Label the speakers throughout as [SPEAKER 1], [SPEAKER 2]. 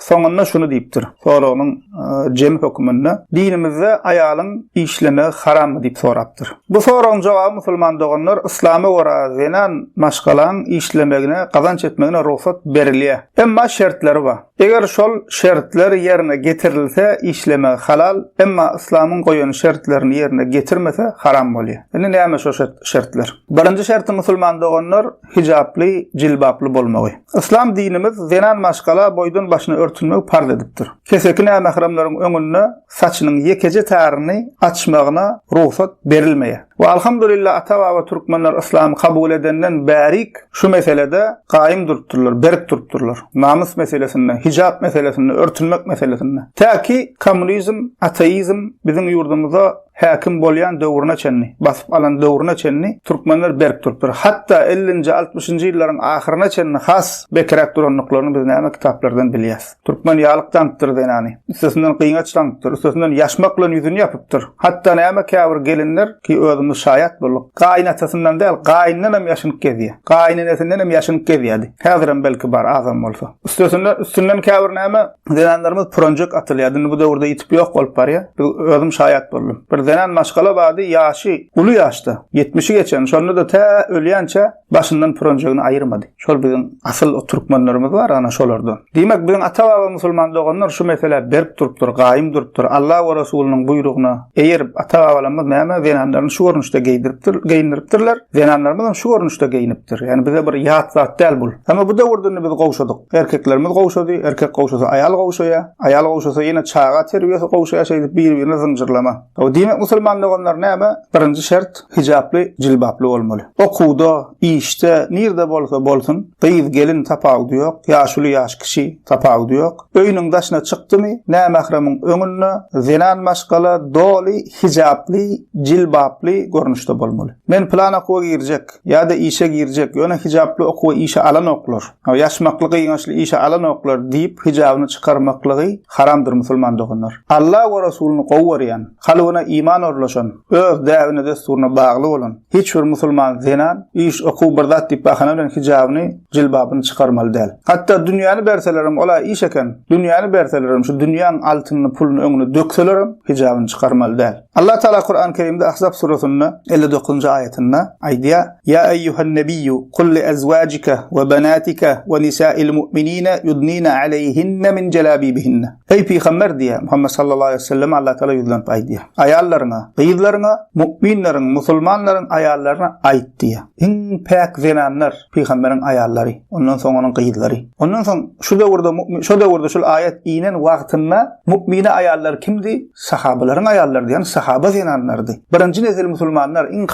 [SPEAKER 1] Soňunda şuny diýipdir, soragynyň e, jemi höküminde, dinimizde aýalyň işlemegi harammy diýip sorapdyr. Bu soragyň jogaby musulman doganlar yslama görä zenan maşgalaň işlemegine, gazanç etmegine rugsat berilýär. Emma şertleri bar. Eger şol şertler ýerine getirilse işlemegi halal, emma yslamyň goýan şertlerini ýerine getirmese haram bolýar. Indi näme şo şertler? Birinji şerti musulman doganlar hijaply, jilbaply bolmagy. Yslam dinimiz zenan maşgala boýdan başyny örtünmegi parz edipdir. Keseki nämähramlaryň öňünde saçynyň ýekeje taryny açmagyna rugsat berilmeýär. We alhamdulillah ata-baba türkmenler yslamy kabul edenden bärik şu meselede gaýym durupdyrlar, berk durupdyrlar. Namys meselesinde, hijap meselesinde, örtünmek meselesinde. Tä ki kommunizm, ateizm biziň ýurdumyza häkim bolýan döwrüne çenli, basyp alan döwrüne çenli türkmenler berk durupdyr. Hatda ellinji, altmyşynjy ýyllaryň ahyryna çenli has bekiräk durandyklaryny biz näme kitaplardan bilýäs. Türkmen ýalyk daňypdyr zenany, üstesinden gyňaç daňypdyr, üstesinden ýaşmak bilen ýüzüni ýapypdyr. Hatda näme käbir gelinler, ki özümiz şaýat bolduk, gaýynatasyndan däl, gaýyndan hem ýaşynyp gezýär. Gaýynenesinden hem ýaşynyp gezýärdi. Häzirem belki bar, azam bolsa. Üstesinden, üstünden käbir näme Zenanlarymyz pyranjyk atylýar. Indi bu döwürde ýitip ýok bolup barýar. Biz özüm şaýat boldum. Bir zenan maşgala bardy, ýaşy uly ýaşda, 70-i geçen. Şonda-da tä ölýänçä başyndan pyranjygyny aýyrmady. Şol biziň asyl o türkmenlerimiz bar, ana şolardan. Diýmek, biziň ata-baba musulman doganlar şu meselä berk durupdyr, gaýym durupdyr. Alla we Resulynyň buýrugyna eýerip, ata-babalarymyz näme zenanlaryny şu görnüşde geýdiripdir, geýindiripdirler. Zenanlarymyz hem şu görnüşde geýinipdir. Ýani bize bir ýat zat däl bu. Emma bu döwürde indi biz gowşadyk. Erkeklerimiz gowşady, erkek gowşasa aýal gowşaýar, aýal gowşasa ýene çaga terbiýesi gowşaýar şeýdip bir-birine zynjyrlama. Diýmek musulman doganlar näme? Birinji şert hijaply, jilbaply bolmaly. Okuwda, işde, nirde bolsa bolsun, gyz, gelin tapawudy ýok, ýaşuly, ýaş kişi tapawudy ýok. Öýüniň daşyna çykdymy, nämähremiň öňünde zenan maşgala doly hijaply, jilbaply görnüşde bolmaly. Men pylan okuwa girjek, ýa-da işe girjek, ýöne hijaply okuwa işe alanoklar, ýaşmakly gyňaçly işe alanoklar diýip hijabyny çykarmaklygy haramdyr musulman doganlar. Alla we Resulyny gowy görýän, kalbyna iman orlaşan, öz däbine-dessuryna bagly bolan hiç bir musulman zenan iş, okuw bir zat diýip bahana bilen hijabyny, jilbabyny çykarmaly däl. Hatda dünýäni berselerem ol-a iş eken, dünýäni berselerem şu dünýäň altynyny, puluny öňüne dökselerem hijabyny çykarmaly däl. Allah Tagala Kuran Kerimde Ahzab suresinde elli dokuzynjy aýatynda aýdýar, Ýa eýýuhan nebiyyu kul li ezwajika we benatika we nisa'il mu'minine yudnine aleýhinne min jelabibihinne. Eý pygamber diýýär, Muhammet sallallahu aleýhi we selleme Allah Tagala ýüzlenip aýdýar, Aýallaryňa, gyzlaryňa, mu'minleriň, musulmanlaryň aýallaryna aýt diýýär. Iň päk zenanlar, pygamberiň aýallary, ondan soň onuň gyzlary. Ondan soň şu döwürde mu'min, şo döwürde şul aýat inen wagtynda mu'mine aýallar kimdi? Sahabalaryň aýallary diýen sahaba zenanlarydy. Birinji nesil musulmanlar iň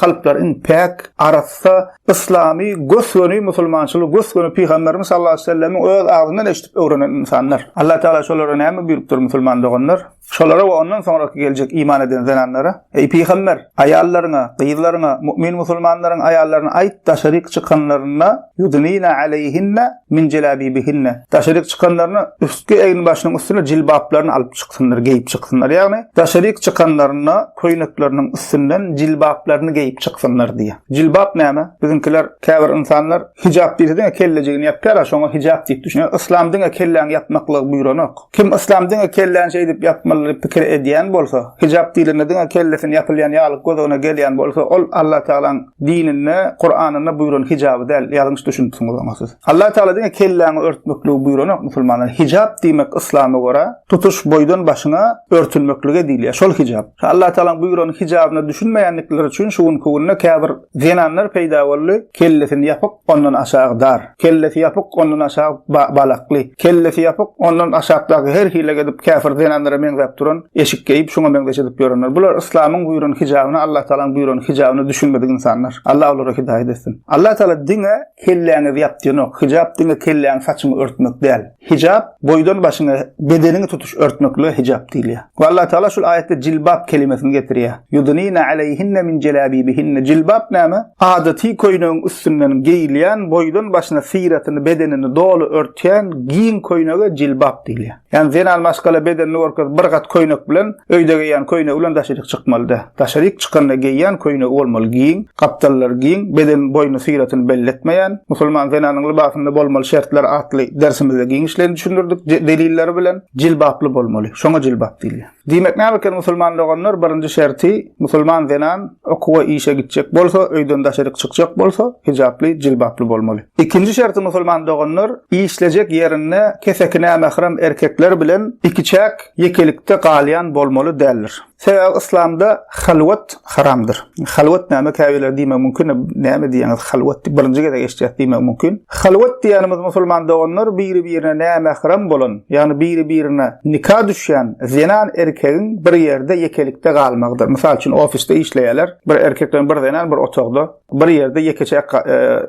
[SPEAKER 1] kalplar iň päk, arassa, yslamy, gös-göni musulmançylygy gös-göni Pygamberimiz sallallahu aleýhi wesellemiň öz agzyndan eşidip öwrenen ynsanlar. Allah Taala şolara näme buýrupdyr musulman doganlar? Şolara we ondan soňraky geljek iman eden zenanlara Eý, pygamber, aýallaryňa, gyzlaryňa, mu'min musulmanlaryň aýallaryna aýt, daşaryk çykanlarynda, ýudnina aleýhinne min jelabibihinne, daşaryk çykanlarynda üstki eginbaşynyň üstüne jilbaplaryny alyp çyksynlar, geýip çyksynlar, ýagny daşaryk çykanlarynda köýnekleriniň üstünden jilbaplaryny geýip çyksynlar diýýär. Jilbap näme? Biziňkiler, käbir ynsanlar Hijap diýse diňe kellejigini ýapýar-a, şoňa hijap diýip düşünýär. Yslam diňe kelläňi ýapmaklygy buýranok. Kim yslam diňe kelläni şeýdip ýapmaly diýip pikir edýän bolsa, hijap diýlende diňe kellesini ýapylýan ýaly göz-öňüne gelýän bolsa, ol Allatagalaň dininde, Kuranynda buýran hijaby däl, ýalňyş düşünipsiňiz oňa siz. Allatagala diňe kelläňi örtmekligi buýranok musulmanlara. Hijap diýmek yslama görä, tutuş boýdan başyňa örtülmeklige diýilýär. Şol hijap. Allatagalaň buýran hijabyna düşünmeýändikleri üçin şu günki günde käbir Zenanlar peýda boldy, kellesini ýapyk, ondan aşagy dar, kellesi ýapyk, ondan aşagy balakly, kellesi ýapyk, ondan aşakdaky her hile edip käfir zenanlara meňzäp duran eşik geýip, şuňa meňzeş edip ýörenler. Bular yslamyň buýran hijabyna, Allatagalaň buýran hijabyna düşünmedik ynsanlar. Allah olara hidaýat etsin. Allatagala diňe kelläňizi ýap diýen ok. Hijap diňe kelläňi saçyňy örtmek däl. Hijap boýdan başyňa bedeniňi tutuş örtmeklige hijap diýilýär. We Allah Taala şul aýatda jilbab kelimesini getirýär. Yudunina aleyhinne min jelabibihinne. Jilbab näme? Adaty köýnegiň üstünden geýilýän boýdan başyna syratyny bedenini doly örtýän giň köýnege jilbab diýilýär. Ýani zenan maşgala bedenini görkezip bir gat köýnek bilen öýde geýýän köýnegi bilen daşaryk çykmaly däl. Daşaryk çykanda geýýän köýnegi bolmaly giň, gapdallary giň, beden boýuny syratyny belli etmeýän, musulman zenanyň lybasynda bolmaly şertler atly dersimizde giňişleýin düşündirdik delilleri bilen, jilbaply bolmaly, şoňa jilbap diýilýär. Diýmek näme eken musulman doganlar, birinji şerti, musulman zenan okuwa işe gitjek bolsa, öýden daşaryk çykjak bolsa, hijaply, jilbaply bolmaly. Ikinji şerti musulman doganlar, işlejek ýerinde keseki nämähram erkekler bilen ikiçäk, ýekelikde galýan bolmaly däldir. Sebäbi yslamda halwat haramdyr. Halwat näme käbirler diýmek mümkin, näme diýýäňiz halwat diýip birinji gezek eşitýäs diýmek mümkin. Halwat diýýänimiz musulman doganlar biri-birine nämähram bolan, ýagny biri-birine nika düşýän zenan erkegiň bir ýerde ýekelikde galmagydyr. Mysal üçin ofisde işleýärler, bir erkek bilen bir zenan bir otagda bir ýerde ýekeçe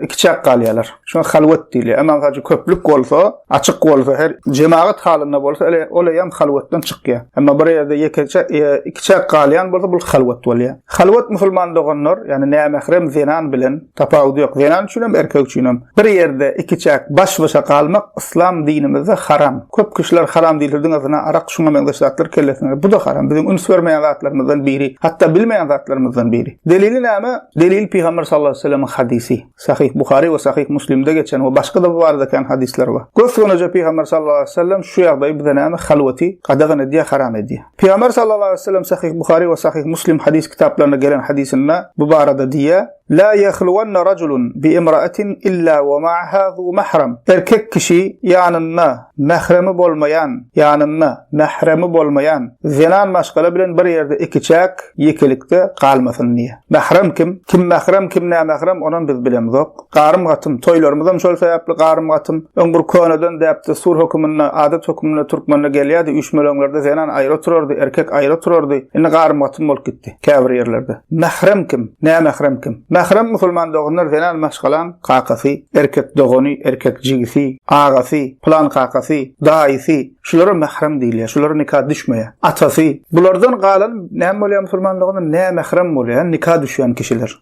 [SPEAKER 1] ikiçäk galýarlar. Şoňa halwat diýilýär. Emma gaçy köplük bolsa, açyk bolsa, her jemagat halynda bolsa, ele ol hem halwatdan çykýar. Emma bir ýerde ýekeçe ikiçäk galýan bolsa, bu halwat bolýar. Halwat musulman doganlar, ýagny nämährem zenan bilen tapawudy ýok. Zenan üçin hem, erkek üçin hem. Bir ýerde ikiçäk baş-başa galmak yslam dinimizde haram. Köp kişiler haram diýilse diňe zyna, arak, şuňa meňzeş zatlar kellesine geler. Bu-da haram, biziň üns bermeýän zatlarymyzdan biri, hatda bilmeýän zatlarymyzdan biri. Delili näme? Delil Pygamber sallallahu aleýhi we sellemiň hadysy. Sahyh Buhary we Sahyh Muslimde geçen we başga-da bu barada kän hadyslar bar. Gös-göneje Pygamber sallallahu aleýhi we sellem şu ýagdaýy bize näme? Halwaty gadagan edýär, haram edýär. Pygamber sallallahu aleýhi we sellem Sahyh Buhary we Sahyh Muslim hadys kitaplarynda gelen hadysynda bu barada diýýär, Lâ yahluwanna raculun bi imra'atin illâ ve ma'ahâ zû mahrem. Erkek kişi ýanynda mähremi bolmaýan, ýanynda mähremi bolmaýan, zenan maşgala bilen bir ýerde ikiçäk, ýekelikde, galmasyn diýýär. Mährem kim? Kim mährem, kim nämährem, onam biz bilemzok. Garym-gatym, toýlarymyzam şol sebäpli garym-gatym. Öň bir köneden däp-dessur höküminde, adat höküminde türkmende gelýärdi, üýşmeleňlerde zenan aýry oturardy, erkek aýry oturardy. Indi garym-gatym bolup gitdi. Käbir ýerlerde. Mährem kim? Nämährem kim? Mährem musulman doganlar zenan maşgalaň kakasy, erkek dogany, erkek jigisi, agasy, pylan kakasy, daýysy, şulara mährem diýilýär, şulara nika düşmeýär. Atasy. Bulardan galan näme bolýar musulman doganlar? Nämährem bolýar, nika düşýän kişiler.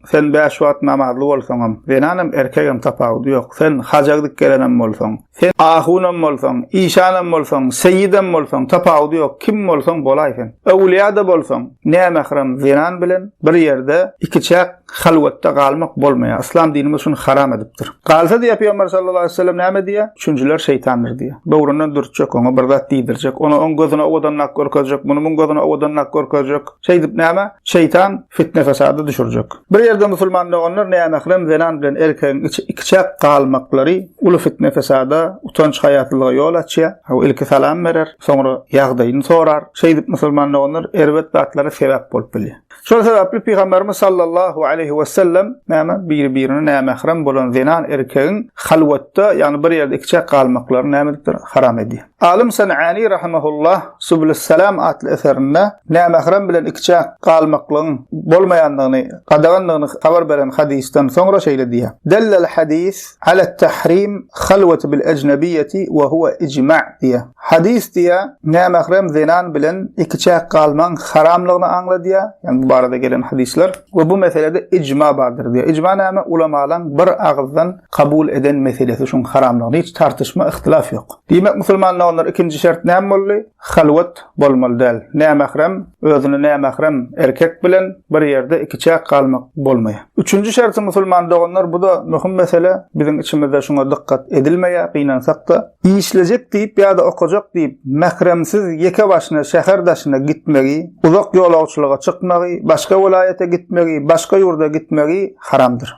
[SPEAKER 1] Sen bäş wagt namazly bolsaňam, zenanam, erkegem tapawudy ýok. Sen haja gidip gelenem bolsaň, sen ahunam bolsaň, işanam bolsaň, seýidem bolsaň, tapawudy ýok, kim bolsaň bolaý sen. Öwülýa-da bolsaň, nämähram zenan bilen bir ýerde ikiçäk halwatda galmak bolmaýar. Yslam dinimiz şuny haram edipdir. Galsa diýýär Pygamber sallallahu aleýhi we sellem näme diýýär? Üçünjiler şeýtandyr diýýär. Böwründen dürtjek, oňa bir zat diýdirjek, ony oň gözüne owadanrak görkezjek, muny muň gözüne owadanrak görkezjek. Şeýdip näme? Şeýtan fitne-fesada düşürjek. Bir ýerde musulman doganlar nämährem zenan bilen erkegiň ikiçäk galmaklary uly fitne-fesada, utanç-haýasyzlyga ýol açýar. Hawa, ilki salam berer, soňra ýagdaýyny sorar. Şeýdip, musulman doganlar erbet zatlara sebäp bolup bilýär. Şol sebäpli Pygamberimiz sallallahu aleýhi wesellem näme biri-birine nämährem bolan zenan erkegiň halwatda, ýagny bir ýerde ikiçäk galmaklaryny näme edipdir? Haram edýär. Alym San'ani rahimehullah Subulus Salam atly eserinde nämährem bilen ikiçäk galmaklygyň bolmaýandygyny, gadagandygyny habar beren hadysdan soňra şeýle diýýär, Dellel hadys alet tahrim halwati bil ejnebiýeti we huwa ijma' diýýär. Hadys diýýär, nämährem zenan bilen ikiçäk galmagyň haramlygyny aňladýar, ýagny bu barada gelen hadyslar, we bu meselede ijma' bardyr diýýär. Ijma' näme? Ulamalaryň bir agyzdan kabul eden meselesi şuň haramlygynda hiç tartyşma yhtylaf ýok. Diýmek musulmanda ondan ikinji şert näme boldy? Halwat bolmaly däl. Nämährem, özüne nämährem erkek bilen bir ýerde ikiçäk galmak bolmaýar. Üçünji şerti musulman doganlar buda möhüm mesele biziň içimizde şuňa dykgat edilmeýär gynansakda. Işlejek diýip ýada okajak diýip mähremsiz ýeke başyna şäher daşyna gitmegi, uzak ýolagçylyga çykmagy, başga welaýata gitmegi, başga ýurda gitmegi haramdyr.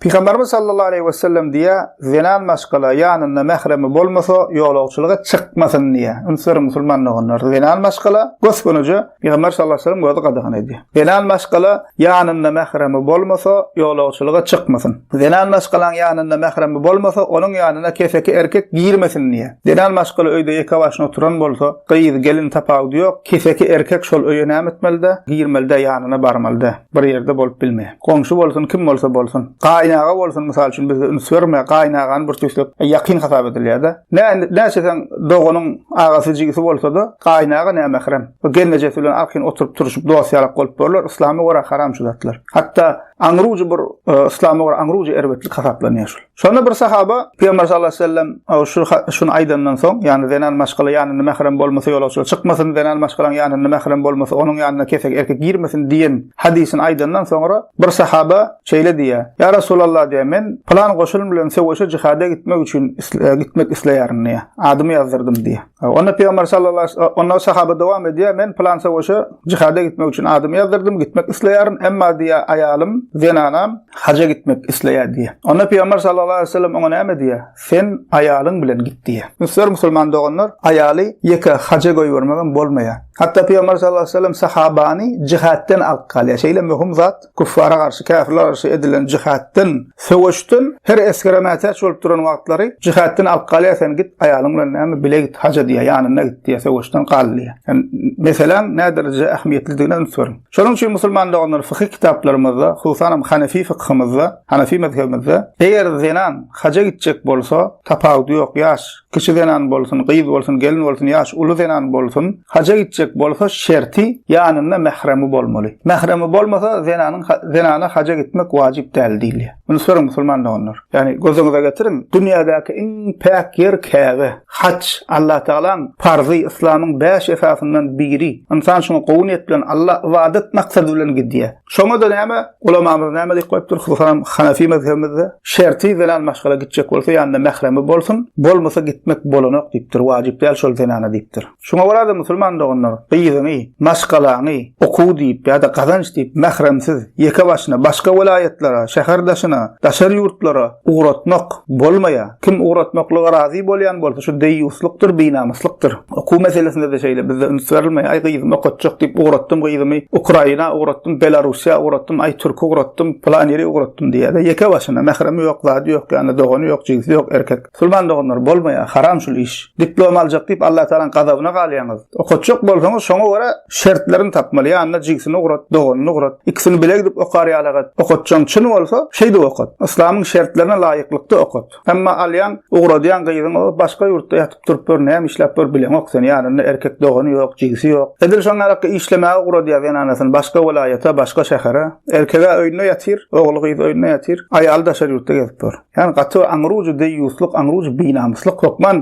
[SPEAKER 1] Pygamberimiz sallallahu aleýhi we sellem diýýär, zenan maşgala ýanynda mähremi bolmasa, ýolagçylyga çykmasyn diýýär. Ünsler musulman doganlar, zenan maşgala gös-göneje Pygamber sallallahu aleýhi we sellem özi gadagan edýär. Zenan maşgala ýanynda mähremi bolmasa, ýolagçylyga çykmasyn. Zenan maşgalaň ýanynda mähremi bolmasa, onuň ýanyna keseki erkek girmesin diýýär. Zenan maşgala öýde ýeke başyna oturan bolsa, gyz, gelin tapawudy ýok, keseki erkek şol öýe näme etmeli-dä? Girmeli-dä, ýanyna barmaly-dä. bir ýerde bolup bilmeýär. Goňşy bolsun, kim bolsa bolsun. Gaýynaga bolsun, mysal üçin bizde üns berme, gaýynagany bir tüýsek ýakyn hasap edilýär-de. Nä näçeseň doganyň agasy jigisi bolsa-da, gaýynaga nä mährem. Bu gelnejesi bilen arkaýyn oturyp turşup dost ýalak bolup borlar, yslama görä haram şu zatlar. Hatda aňrujy bir yslama görä aňrujy erbetlik hasaplanýar şul. Şonda bir sahaba Pygamber sallallahu aleyhi ve sellem şu şunu aýdandan soň, ýagny zenan maşgala ýanynda mährem bolmasa ýolagçylar çykmasyn, zenan maşgalaň ýanynda mährem bolmasa onuň ýanyna kesek erkek girmesin diýen hadysyny aýdandan soňra bir sahaba şeýle diýýär. Ýa Resulallah diýýär, men pylan goşun bilen söweşe jihada gitmek üçin gitmek isleýärin diýýär. Adymy ýazdyrydym diýýär. Onda Pygamber sallallahu onda sahaba dowam edýär, men plan savaşa jihada gitmek üçin adymy ýazdyrdım, gitmek isleýärin, emma diýä aýalym, zenanam haja gitmek isleýär diýä. Onda Pygamber sallallahu aleyhi ve sellem oňa näme diýä? Sen aýalyň bilen git diýä. Müsür musulman doganlar aýaly ýeke haja goýbermegem bolmaýar. Hatda Pygamber sallallahu aleyhi ve sellem sahabany jihatdan alyp galýar. Şeýle möhüm zat Küffara garşy, käfirlere garşy edilen jihaddan, söweşden her esgere mätäç bolup duran wagtlary jihaddan alyp galýar, sen git aýalyň bilen näme bile git, haja diýýär, ýanynda git diýýär, söweşden gal diýýär. Ýani meseläň näde derejede ähmiýetlidigine üns beriň. Şonuň üçin musulman doganlar fykyh kitaplarymyzda, hususan hem hanefi fykhymyzda, hanefi mezhebimizde eger zenan haja gitjek bolsa, tapawudy ýok, ýaş, Kişi zenan bolsun, gyz bolsun, gelin bolsun, ýaş uly zenan bolsun, haja gitjek bolsa şerti ýanynda mähremi bolmaly. Mähremi bolmasa zenanyň zenana haja gitmek wajyp däl diýilýär. Muny soraň musulman doganlar. Ýagny gözüňize getiriň, dünýädäki iň päk ýer Käbe. Haj Allah Tagalaň parzy, yslamyň bäş esasyndan biri. Ynsan şuňa gowy niýet bilen Allah ybadat maksady bilen gidýär. Şoňa-da näme, ulamamyz näme diýip goýupdyr, hususanam Hanefi mezhebimizde, Şerti zenan maşgala gitjek bolsa, ýanynda mähremi bolsun, bolmasa gitmek bolanok diýipdir, wajyp däl şol zenana diýipdir. Şoňa görä-de, musulman doganlar, gyzyňy, maşgalaňy okuw diýip ýa-da gazanç diýip mähremsiz, ýeke başyna, başga welaýatlara, şäher daşyna, daşary ýurtlara, ugratmak bolmaýar. Kim ugratmaklyga razy bolýan bolsa, şu deýýuslykdyr, binamyslykdyr. Okuw meselesinde-de şeýle, bizde üns berilmeýär. Aý, gyzymy okatjak diýip ugratdym, gyzymy Ukraina ugratdym, Belarussiýa ugratdym, aý, türki ugratdym, pylan ýeri ugratdym diýýär-de, ýeke başyna, mähremi ýok, zady ýok, ýanynda dogany ýok, jigsy ýok, erkek. Musulman doganlar, bolmaýar, haram şul iş. diplom aljak diýip Allah Taalanyň gazabyna galýaňyz. Okatjak bolsaňyz şoňa görä şertlerini tapmaly. Ýanyna jigsini ugrat, doganyny ugrat. Ikisini bile gidip okar ýalagat. Okatjaň çyn bolsa şeýdip okat. Yslamyň şertlerine laýyklykda okat. Emma alýaň, ugradýaň gyzyň o başga ýurtda ýatyp durup ýör, näme işläp ýör bileňok sen. Ýanynda erkek dogany ýok, jigsi ýok. Edil şoňa ýarak işlemäge ugradýar zenanasyny başga welaýata, başga şähere. Erkege öýünde ýatyr, ogly gyz öýünde ýatyr. Aýaly daşary ýurtda gezip ýör. Ýagny gaty aňrujy deýýuslyk, aňrujy binamyslyk, hökman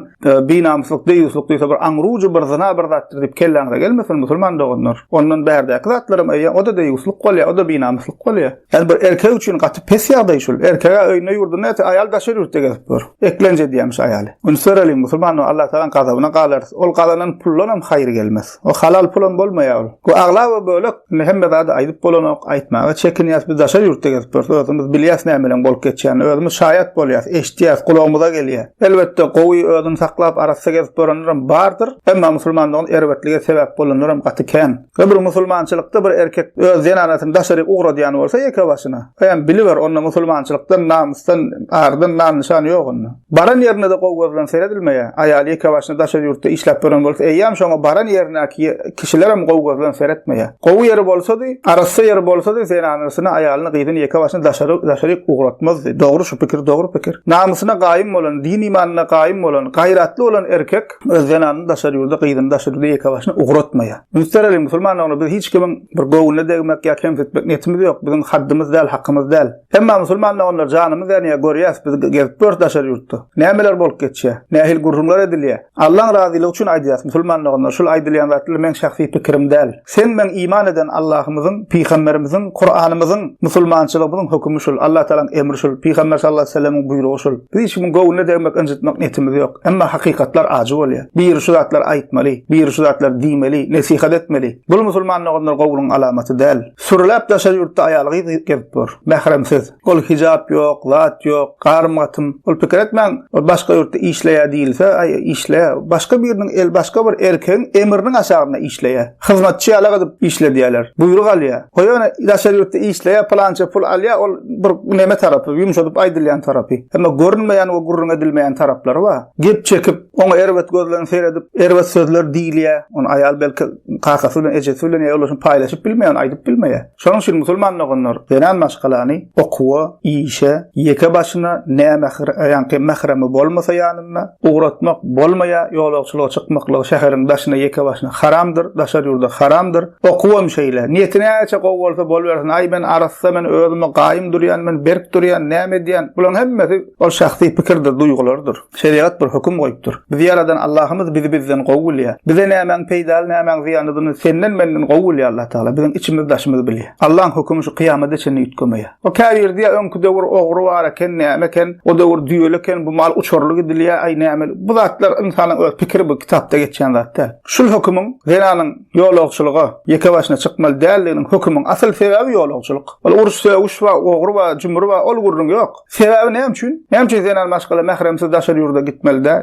[SPEAKER 1] binamyslyk, deýýuslyk diýse bir aňrujy bir zyna bir zatdyr diýip kelläňize gelmesin musulman doganlar. Ondan bärdäki zatlaram öýe o-da deýýuslyk bolýar, o-da binamyslyk bolýar. Ýagny bir erkek üçin gaty pes ýagdaý şul. Erkege öýünde-ýurdunda ýaty aýal daşary ýurtda gezip ýör. Eklenç edýärmiş aýaly. Üns bereliň musulman Allatagalan gazabyna galarys. Ol gazanan puldanam haýyr gelmez. O halal pulam bolmaýar ol. Bu aglaba bölek indi hemme zady aýdyp bolanok, aýtmaga çekinýäs. Biz daşary ýurtda gezip ýörüs, özümiz bilýäs nämeleň bolup geçýänini, özümiz şaýat bolýas, eşidýäs, gulagymyza gelýär. Elbetde gowy özüni saklap arassa gezip ýörenlerem bardyr, emma musulmanlygyň erbetlige sebäp bolanlaram gaty kän. Öbür musulmançylykda bir erkek öz zenanasyny daşaryk ugradýan bolsa ýeke başyna, Eýem biliber, onda musulmançylykdan, namysdan, ardan nam-nyşan ýok onda. Baran ýerinde-de gowy göz bilen seredilmeýär. Aýaly ýekebaşyna daşary ýurtda işläp ýören bolsa, eýýäm şoňa baran ýerindäki kişilerem gowy göz bilen seretmeýär. Gowy ýeri bolsady, arassa ýeri bolsady, zenanysyny, aýalyny, gyzyny ýekebaşyna daşary, daşaryk ugratmazdy. Dogry şu pikir, dogry pikir. Namysyna gaýym bolan, din-imanyna gaýym bolan, gaýratly bolan erkek öz zenanyny daşary ýurda, gyzyny daşary ýurda ýekebaşyna ugratmaýar. Üns bereliň, musulman ogly, biz hiç kimiň Bir göwnüne degmek ýa kemsitmek niýetimiz ýok. Biziň haddymyz däl, hakymyz däl. Emma musulman doganlar janymyz ýanýar, görýäs, biz gezip ýörüs daşary ýurtda. Nämeler bolup geçýär? Nähili gürrüňler edilýär? Allaň razylygy üçin aýdýas, musulman doganlar, şul aýdylýan zatlar meň şahsy pikirim däl. Sen meň iman eden Allahymyzyň, pygamberimiziň, Kuranymyzyň, musulmançylygymyzyň hökümi şul, Allah Tagalaň emri şul, pygamber sallallahu aleyhi ve sellemiň buýrugy şul. Biz hiç kimiň göwnüne degmek, ynjytmak niýetimiz ýok. Emma hakykatlar ajy bolýar. Biri şu zatlar aýtmaly, biri şu zatlar diýmeli, nesihat etmeli. Bul musulman doganlar gowulygyň alamaty däl. Sürüläp daşary ýurtda aýal gyz gezip ýör. Mähremsiz. Ol hijap ýok, zat ýok, garym gatym. Ol pikir etmäň, ol başga ýurtda işleýä diýilse, aý işle, başga biriniň el başga bir erkegiň emriniň aşagynda işleýä. Hyzmatçy ýala gyzyp işledýäler. Buýruk alýa. Goý ony daşary ýurtda işleýä pylança pul alýa ol bir neme tarapy, ýumşadyp aýdylýan tarapy. Emma görünmeýän we gürrüň edilmeýän taraplary bar. Gep çekip, Oňa erbet göz bilen seredip, erbet sözler diýilýär. Ony aýal belki kakasy bilen, ejesi bilen ýa ýoldaşyny paýlaşyp bilmeýär, aýdyp bilmeýär. Şonuň üçin musulman doganlar zenan maşgalany okuwa, işe, ýeke başyna, nämähir, ýaňky mähremi bolmasa ýanynda, ugratmak bolmaýar, ýolagçylyga çykmaklygy şäheriň daşyna ýeke başyna haramdyr, daşary ýurda haramdyr. Okuwam şeýle. Niýeti näçe gowy bolsa bolubersin, aý men arassa, men özüme gaýym durýan, men berk durýan, näme edýän? Bularyň hemmesi ol şahsy pikirdir, duýgulardyr. Şerigat bir höküm goýupdyr. Bizi ýaradan Allahymyz bizi bizden gowy bilýär. Bize nämäň peýdaly, nämäň zyýanlydyny senden, menden gowy bilýär Allah Tagala. Biziň içimiz, daşymyz bilýär. Allaň hökümi şu kyýamada çenli üýtgemeýär. O käbir diýýär, öňki döwür ogry bar eken, näme eken, o döwür düýeli eken, bu mal uçurly gidilýär, aý nämeli. Bu zatlar ynsanyň öz pikiri bu kitapda geçýän zat däl. Şul hökümiň zenanyň ýolagçylyga ýeke başyna çykmaly däldiginiň hökümiň asyl sebäbi ýolagçylyk. Ol uruş-sögüş bar, ogry bar, jümri bar, ol gürrüň ýok. Sebäbi näme üçin? Näme üçin zenan maşgala mähremsiz daşary ýurda gitmeli dä?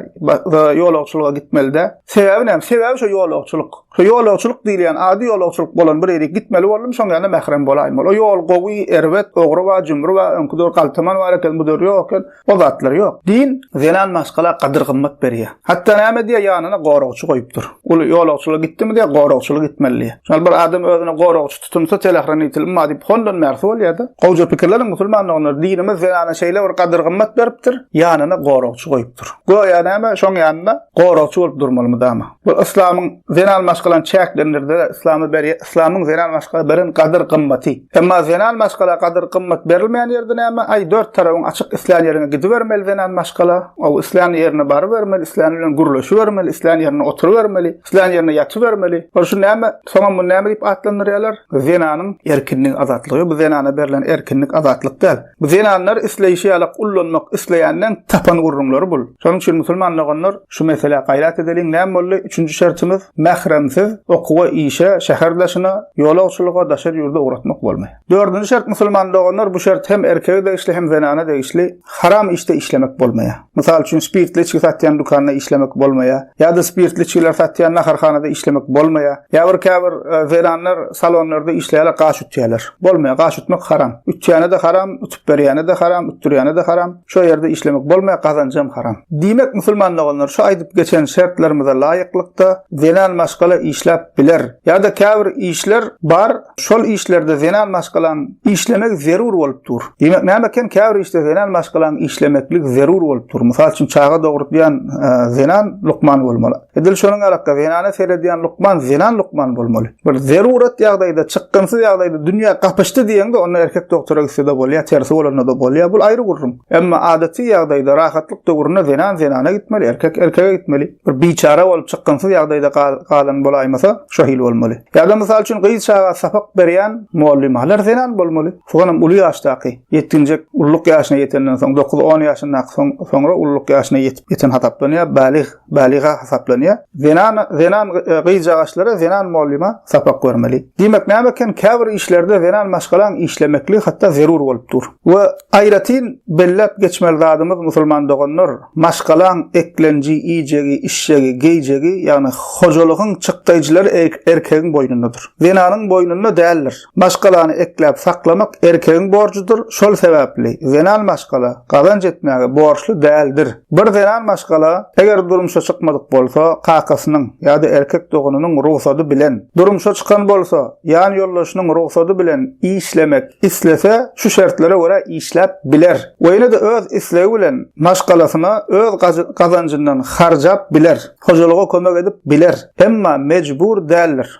[SPEAKER 1] Ýolagçylyga gitmeli dä? Sebäbi näme? Sebäbi şu ýolagçylyk. Şu ýolagçylyk diýilýän ady ýolagçylyk bolan bir ýere gitmeli boldum, şoň ýanyna mährem bolaýyn. Ol ýol gowy, erbet, ogry bar, jümri bar, öňki döwür galtaman bar eken, bu döwür ýok eken. O zatlar ýok. Din zenan maşgala gadyr-gymmat berýär. Hatda näme diýýär, ýanyna goragçy goýupdyr. Ol ýolagçylyga gitdimi diýýär, goragçylyk etmeli diýýär. Şol bir adam özüne goragçy Tutumsa telehranitilm ma diýip hondan bärsi bolýada. Gowja pikirleniň musulman doganlar dinimiz zenana şeýle bir gadyr gymmat beripdir, ýanyna goragçy goýupdyr. Göýä näme şoň ýanynda goragçy bolup durmaly mydama. Bu yslamyň zenan maşgalany çäklendirdi, yslamy beri yslamyň zenan maşgala beren gadyr gymmaty. Emma zenan maşgala gadyr gymmat berilmeýän ýerde näme aý dört tarabyň açyk islän ýeriňe gidibermeli zenan maşgala. Ow islän ýerine barybermeli, islän bilen gürleşibermeli, islän ýerine oturybermeli. Islän ýerine ýatybermeli. Ol şu näme? Soňam muny näme diýip atlandyrýarlar? Zenanyň erkinlik azatlygy. Bu zenana berlen erkinlik azatlyk däl. Bu zenanlar isleýşi ýalak ullanmak isleýänden tapan gürrüňleri bul. Şonuň üçin musulman doganlar şu meselä gaýrat edeliň. Näme boldy? Üçünji şertimiz, mähremsiz okuwa, işe, şäher daşyna, ýolagçylyga, daşary ýurda ugratmak bolmaý. Dördünji şert musulman doganlar bu şert hem erkege degişli hem zenana degişli haram işte işlemek bolmaýar. Mysal üçin spirtli içgi satýan dükanda işlemek bolmaýar. Ýa-da spirtli içgiler satýan naharhanada işlemek bolmaýar. Ýa bir käbir e, zenanlar salonlarda işleýärler, gaş ütýärler. Bolmaýar, gaş ütmek haram. Ütýäne-de haram, ütüp berýäne-de haram, ütdürýäne-de haram. Şo ýerde işlemek bolmaýar, gazanjam haram. Diýmek, musulman doganlar şu aýdyp geçen şertlerimize laýyklykda zenan maşgala işläp biler. Ýa-da käbir işler bar, şol işlerde zenan maşgalaň işlemegi zerur bolup dur. Diýmek, näme eken, käbir işde zenan maşgalaň işlemeklik zerur bolup dur. Mysal üçin, çaga dogurdýan zenan lukman bolmaly. Edil şonuň ýalak-da, zenana seredýän lukman zenan lukman bolmaly. bir zerurat ýagdaýda, çykgynsyz ýagdaýda dünýä gapyşdy diýeňde, onda erkek doktora gitse-de bolýar, tersi bolanda-da bolýar, bul aýry gürrüň. Emma adaty ýagdaýda, rahatlyk döwründe zenan zenana gitmeli, erkek erkege gitmeli. Bir biçara bolup, çykgynsyz ýagdaýda galan bolaýmasa, şo hili bolmaly. Ýa-da, mysal üçin, gyz çaga sapak berýän mugallymhalar zenan bolmaly. Soňam uly ýaşdaky, ýetginjek, ulluk ýaşyna ýetenden soň, dokuz-on ýaşyndaky, soň, soňra ulluk ýaşyna ýetip, ýeten hasaplanýar, balyg. Balyga hasaplanýar. Zenan zenan gyzjagaşlara zenan mugallima sapak bermeli. Diýmek näme eken käbir işlerde zenan maşgalaň işlemekli hatda zerur bolup dur. We aýratyn belläp geçmeli zadymyz musulman doganlar, maşgalaň eklenji, iýjegi, işjegi, geýjegi, ýagny hojalygyň çykdaýjylary erkegiň boýnundadyr. Zenanyň boýnunda däldir. Maşgalany ekläp saklamak erkegiň borjudyr, şol sebäpli zenan maşgala gazanç etmäge borçly däldir. Bir zenan maşgala, eger durmuşa çykmadyk bolsa, kakasynyň ýa-da erkek doganynyň rugsady bilen, durmuşa çykan bolsa, ýan ýoldaşynyň rugsady bilen işlemek islese, şu şertlere görä işläp biler we ýene-de öz islegi bilen maşgalasyna öz gazanjyndan harjap biler, hojalyga kömek edip biler, emma mejbur däldir.